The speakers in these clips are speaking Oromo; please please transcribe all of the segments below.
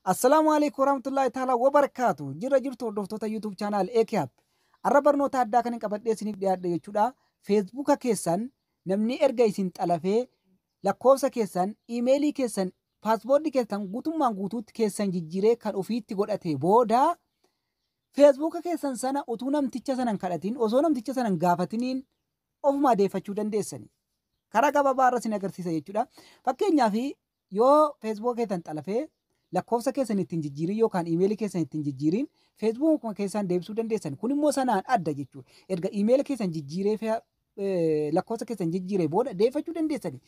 Assalaamu alaikum warahmatullahi ta'ala wabarakaatu. Jirra jirtu hordoftoota YouTube channel AKAP. Arra barnoota addaa kan hin qabadhee isiniif dhiyaadhe jechuudha. Feesbuuka keessan namni erga isin xalafee lakkoofsa keessan, iimeelii keessan, paaspoortii keessan guutummaan guutuutti keessan jijjiiree kan ofiitti godhate booda feesbuuka keessan sana utuu namticha sanan kadhatiin osoo namticha sanan gaafatiniin ofumaa deeffachuu dandeessani. Karaa gabaabaa irra isin agarsiisa jechuudha. Fakkeenyaaf Yoo feesbuuka keessan xalafee lakkoofsa keessan ittiin jijjiirin yookaan iimeelii keessan ittiin jijjiirin feesbuukuma keessaan deebisuu dandeessan. Kun immoo sanaan adda jechuudha. Erga iimeela keessan jijjiiree fi eh, lakkoofsa keessan jijjiiree booda deeffachuu dandeessani.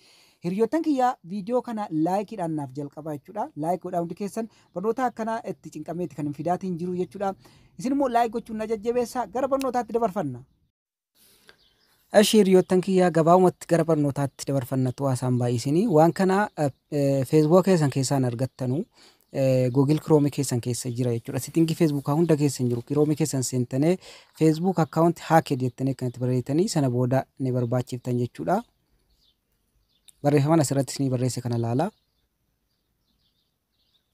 Hiriyoottan kiyyaa viidiyoo kana laayikiidhaan naaf jalqabaa jechuudha. Laayik godhaa hundi keessan barnoota akkanaa itti cinqameeti kan hin fidaatiin jiru jechuudha. Isin immoo laayik gochuun na jajjabeessaa gara barnootaatti dabarfanna. Eshi hiriyoottan kiyyaa gabaabumatti gara barnootaatti dabarfannatu haasaan baay'isinii waan kana feesbuuka keessan keessaan argattanu Google Chrome keessan keessa jira jechuudha. Sitingii feesbuukaa hunda keessa hin jiru. Chrome keessan seentanii feesbuuk akkaawunti haaked jettanii kanatti barreessitanii sana booda ni barbaachiftan jechuudha. Barreeffaman asirrattis ni barreesse kana laala.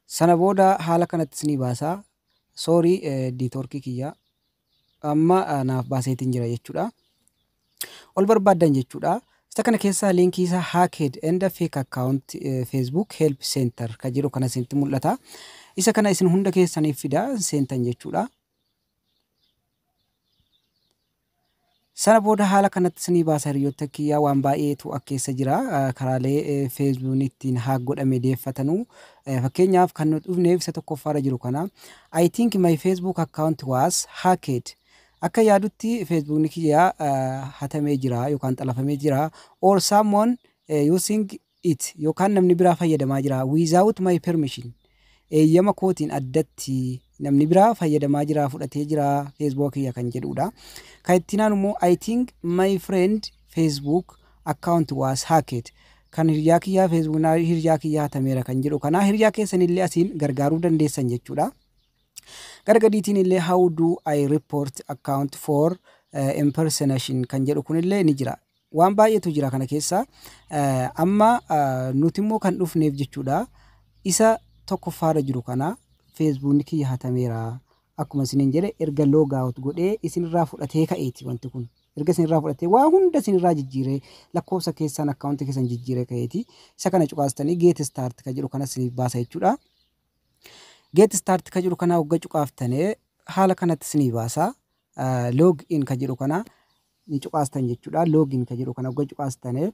Sana booda haala kanatti isinii baasa. Sorry network kiyya amma naaf baaseetiin jira jechuudha. Ol barbaaddan jechuudha. Isa kana keessaa liinkii isaa hacked and fake account eh, Facebook help center kan jedhu kana isinitti mul'ata. Isa kana isin hunda keessaniif fida seentan jechuudha. Sana booda haala kanatti isinii baasa hiriyyotta kiyyaa waan baay'eetu ak keessa jira karaalee feesbuun ittiin haak godhame deeffatanu fakkeenyaaf kan nuti dhufneef isa tokkoffaarra jiru kana I think my Facebook account was hacked akka yaadutti feesbuukni kiyyaa hatamee jira yookaan xalafamee jira or someone using it yookaan namni biraa fayyadamaa jira without my permission eeyyama kootiin addatti namni biraa fayyadamaa jira fudhatee jira feesbuuka kiyya kan jedhuudha. Kan ittiin aanu immoo I think my friend Facebook account was hacked kan hiriyaa kiyyaa Facebook na- hiriyaa kiyyaa hatameera kan jedhu kana hiriyaa keessan illee asiin gargaaruu dandeessan jechuudha. Gara gadiitiin illee how do I report account for eh, impersonation kan jedhu kun illee ni jira. Waan baay'eetu jira kana keessa. Amma nuti immoo kan dhufneef jechuudha. Isa tokkoffaarra jiru kana feesbuukni kiyya hatameera. Akkuma isiniin jedhe erga loogaawut godhee isinirraa fudhatee ka'eeti wanti kun. Erga isinirraa fudhatee waa hunda isinirraa jijjiiree lakkoofsa keessaan akkaawuntii keessan jijjiiree ka'eeti. Isa kana cuqaastanii geet istaart kan jedhu kana isiniif baasa jechuudha. Geet istaart kan jedhu kana hogga cuqaaftanii haala kanatti isinii baasa. Log in ka jedhu kana ni cuqaastan jechuudha. Log in ka jedhu kana ogga cuqaastane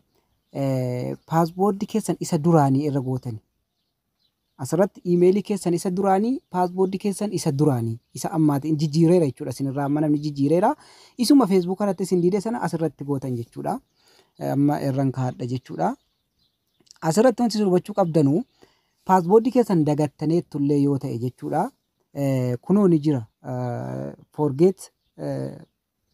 paaswoordi keessan isa duraanii irra gootani. Asirratti iimeelii keessan isa duraanii paaswoordi keessan isa duraanii isa ammaati in jijjiireera jechuudha. Isinirraa amma namni jijjiireera. Isuma feesbuuka irratti isin diide sana asirratti gootan jechuudha. Amma irran kaadha jechuudha. Asirratti wanti isin hubachuu qabdanu paaswoordi keessan dagattaneettullee yoo ta'e jechuudha. kunoo ni jira forget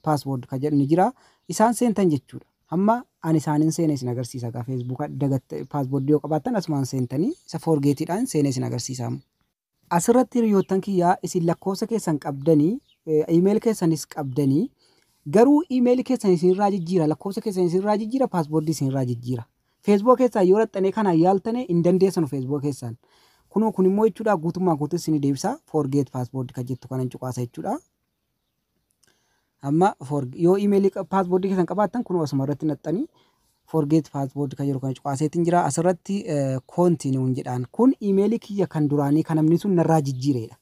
password ka jedhu ni jira isaan seentan jechuudha hamma ani isaanin seene isin agarsiisa gaa feesbuuka dagatte password yoo qabaattan asumaan seentanii isa forgeetiidhaan seene isin agarsiisa amma. Asirratti hiriyoottan kiyyaa isin lakkoofsa keessan qabdanii iimeeli keessanis qabdanii garuu iimeeli keessan isinirraa jijjiira lakkoofsa keessan isinirraa jijjiira paaswordii isinirraa jijjiira Feesbuuka keessaan yoo dhaxxanee kanaan yaaltane hin dandeessanu feesbuuka keessaan. Kunoo kun immoo jechuudha guutummaa guutuu isin deebisa forget password kan jettu kanan cuqaasa jechuudha. Amma yoo imeelii password keessan qabaattan kunoo asuma irratti naxxanii forget password kan jedhu kana cuqaaseetiin jira asirratti koontinuun jedhaan kun imeelii kiyya kan duraanii kan namni sun narraa jijjiireedha.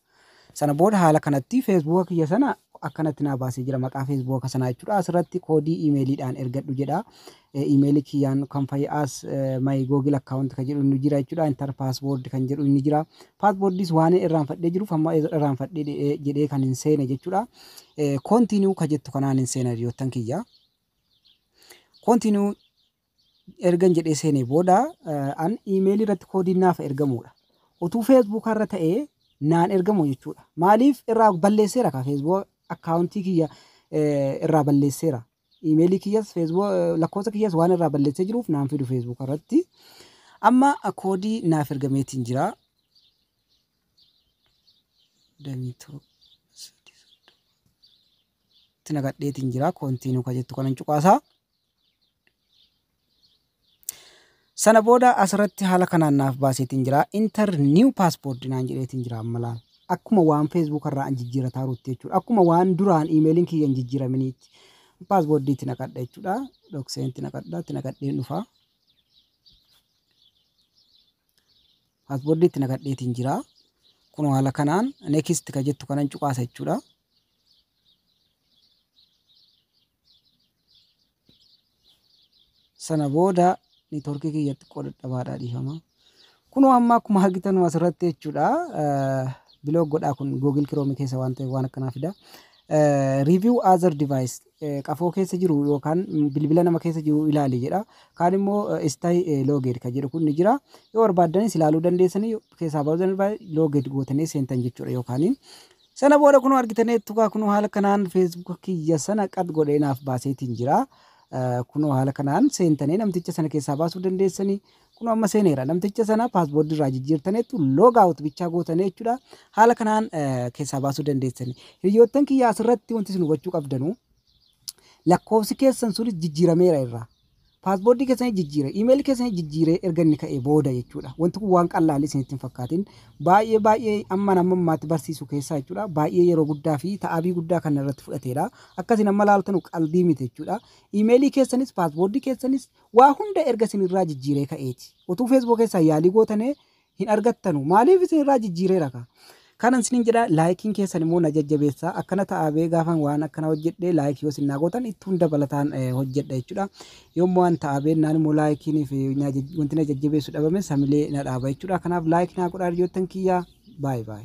Sana booda haala kanatti feesbuuka kiyya sana akkanatti naa baasee jira maqaa feesbuuka sanaa jechuudha. Asirratti koodii iimeeliidhaan ergadhu jedha. Iimeelii kiyyaan kan fa'i as my google account kan jedhu inni jira jechuudha. Intar paaswoord kan jedhu inni jira. Paaswoordiis waan irraanfadhee jiruuf amma irraanfadhee jedhee kan hin seene jechuudha. Koontiinuu ka jettu kanaan hin seena hiriyoottan kiyya. Koontiinuu ergan jedhee seenee booda an iimeelii irratti koodiin naaf ergamuudha. Utuu feesbuukaa irra ta'ee naan ergamu jechuudha. Maaliif irraa balleesseera kaa feesbuuka akkaawuntii kiyya irraa balleesseera. Iimeelii kiyyas feesbuuka lakkoofsa kiyyas waan irraa balleessee jiruuf naan fidu feesbuuka irratti. Amma koodii naaf ergameetiin jira. Damiitoo itti nagadheetiin jira. Koontiinuu ka jettu kanan cuqaasaa. Sana booda asirratti haala kanaan naaf baaseetiin jira. Inter new passport naan jedheetiin jira amma laal. Akkuma waan Facebook irraa an jijjiirataa ruutti jechuudha. Akkuma waan duraan iimeeliin kiyya hin jijjiiraminiitti. Paaspoortii itti naqadha jechuudha. Dokseen itti naqadha. Itti naqadheen dhufa. Paaspoortii itti naqadheetiin jira. Kunoo haala kanaan next ka jettu kanan cuqaasa jechuudha. sana booda niitoorkii kiyya xiqqoo dadhabaadha dhiifama. Kunoo amma akkuma argitan asirratti jechuudha biloog godhaa kun Google Chrome keessa waan ta'eef waan akkanaa fida. Review other device eh, qafoo keessa jiru yookaan bilbila nama keessa jiru ilaali jedha. Kaan immoo istay looged kan jedhu kun ni jira. Yoo barbaaddanis ilaaluu dandeessanii keessaa baasanii looged gootanii seentan jechuudha yookaan Sana booda kunoo argitaneettu kaa kunoo haala kanaan Facebook kiyya sana qad godhee naaf baaseetiin jira. Eh, Kunoo haala kanaan seentanii namticha sana keessaa baasuu dandeessanii. Kunoo amma seeneera namticha sana paasboordii irraa jijjiirtaneettu log out bichaa gootanii jechuudha. Haala kanaan eh, keessaa baasuu dandeessanii. Hiriyoottan kiyya asirratti wanti isin hubachuu qabdanu lakkoofsi keessan sunis jijjiirameera irraa. Password keessanii jijjiire, email keessanii jijjiiree erga inni ka'ee booda jechuudha. Wanti kun waan qallaalii isinitti hin fakkaatin. Baay'ee baay'ee amma nama ammaatti barsiisu keessaa jechuudha. Baay'ee yeroo guddaa fi ta'abii guddaa kan irratti fudhateedha. Akkasiin amma laaltanu qaldii miti jechuudha. Imeelii keessanis paaspoortii keessanis waa hunda erga isin irraa jijjiiree ka'eeti. Otuu feesbuuk keessaa yaalii gootanee hin argattanu maaliif isin irraa jijjiireera kaa kanan isinin jedha laayikiin keessan immoo na jajjabeessa akkana ta'a bee gaafan waan akkana hojjedhe laayikii yoo isin naa gootan itti hunda balataan eh, hojjedha jechuudha yommuu waan ta'a bee naan immoo laayikiin fi na jaj- wanti na jajjabeessu dhabame samilee na dhaaba jechuudha kanaaf laayikii naa godhaa hiriyoottan kiyyaa baay baay